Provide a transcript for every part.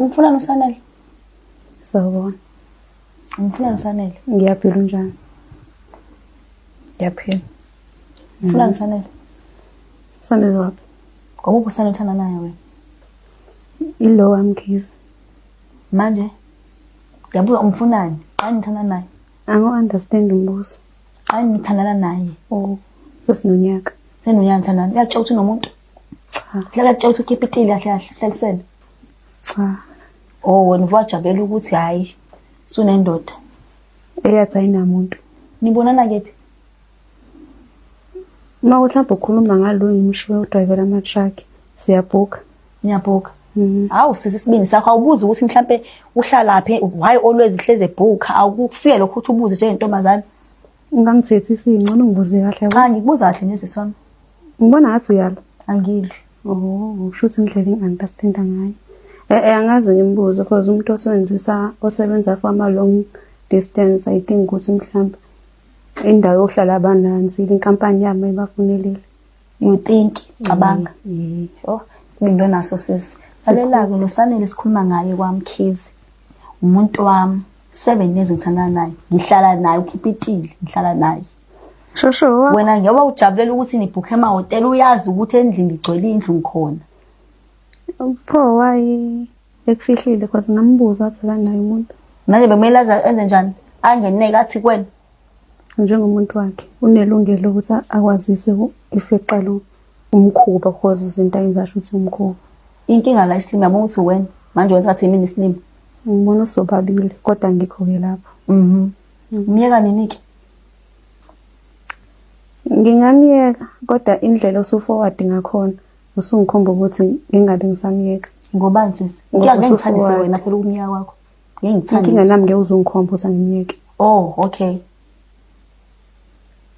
Umfuna nosanele. Sawubona. Umfuna nosanele. Ngiyaphila unjani? Ngiyaphila. Umfuna mm. nosanele. Sanele wapi? Ngoba ubusana uthanda naye wena. Ilo wamkhiza. Manje yabuza umfunani? Qani ngithanda naye. Ango understand umbuzo. Qani ngithandana naye. Oh, sesinonyaka. Senonyaka ngithandana. Uyatshela ukuthi unomuntu. cha hlala kutshela ukuthi ukhipha itili kahle kahle hlalisene cha oh wena uvajabulela ukuthi hayi sunendoda eyathi ayinamuntu nibonana kephi uma kuthi mhlawumbe ukhuluma ngalo ngimshiwe udrayivela ama-truck siyabhuka ngiyabhuka Mm-hmm. hawu sisi isibindi sakho awubuzi ukuthi mhlampe uhlalaphi why always ihleze ebhuka awukufike lokho ukuthi ubuze njengentombazane ungangithethi singcono ngibuze kahle cha ngikubuza kahle neziswami Ngibona ngathi uyalwa. Angilwi. Oh, shuthi indlela i-anti asithinta ngayo. Eh, eh angazi ngimbuze because umuntu osebenzisa osebenza for ama long distance I think ukuthi mhlawumbe indawo yokuhlala abananzi inkampani yami ibafunelile. You think cabanga. Mm. Oh, sibindo naso sisi. Salelako lo sanele sikhuluma ngaye kwamkhizi. Umuntu wami 7 years ngithanda naye. Ngihlala naye ukhipha itili, ngihlala naye. Shosho. Wena njengoba ujabulela ukuthi nibhukhe emahhotela uyazi ukuthi endlini igcwele indlu ngikhona. Pho wayi ekufihlile cause ngambuza wathi akanaye umuntu. Manje bekumele aze enze njani? Angeneke athi kwena. Njengomuntu wakhe unelungelo ukuthi akwazise if eqala umkhuba cause izinto ayenza asho ukuthi umkhuba. Inkinga la isilima yabona ukuthi wena manje wenza athi yimini isilima. Ngibona sobabili kodwa ngikho-ke lapho. Mhm. Ngimyeka nini-ke? Ngingamyeka kodwa indlela osuforward ngakhona usungikhomba ukuthi ngingabe ngisamyeka. Ngobani sisi? Ngeke ngithandise wena phela ukumyeka kwakho. Ngeke ngithandise. Inkinga nami ngeke uzungikhomba ukuthi angimyeke. Oh, okay.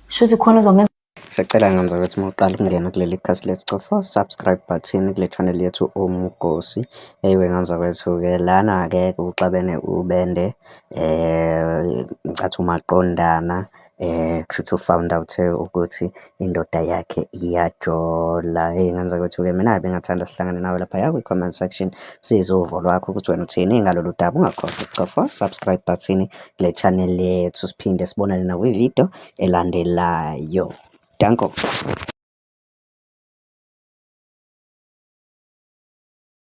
Shuthi khona uzongenza Siyacela ngenza ukuthi uma uqala ukungena kuleli khasi lethu cofa subscribe button kule channel yethu Umugosi. Eyiwe ngenza kwethu-ke lana-ke kuxabene ubende eh ngicatha umaqondana eh kushuthi ufound out ukuthi indoda yakhe iyajola hey ngenza ukuthi ke mina bengathanda sihlangane nawe lapha ya kwi-comment section size uvo lwakho ukuthi wena uthini ngalolu daba ungakhohlwa ukucofa subscribe button kule channel yethu siphinde sibonane nakwi-video elandelayo. Danko.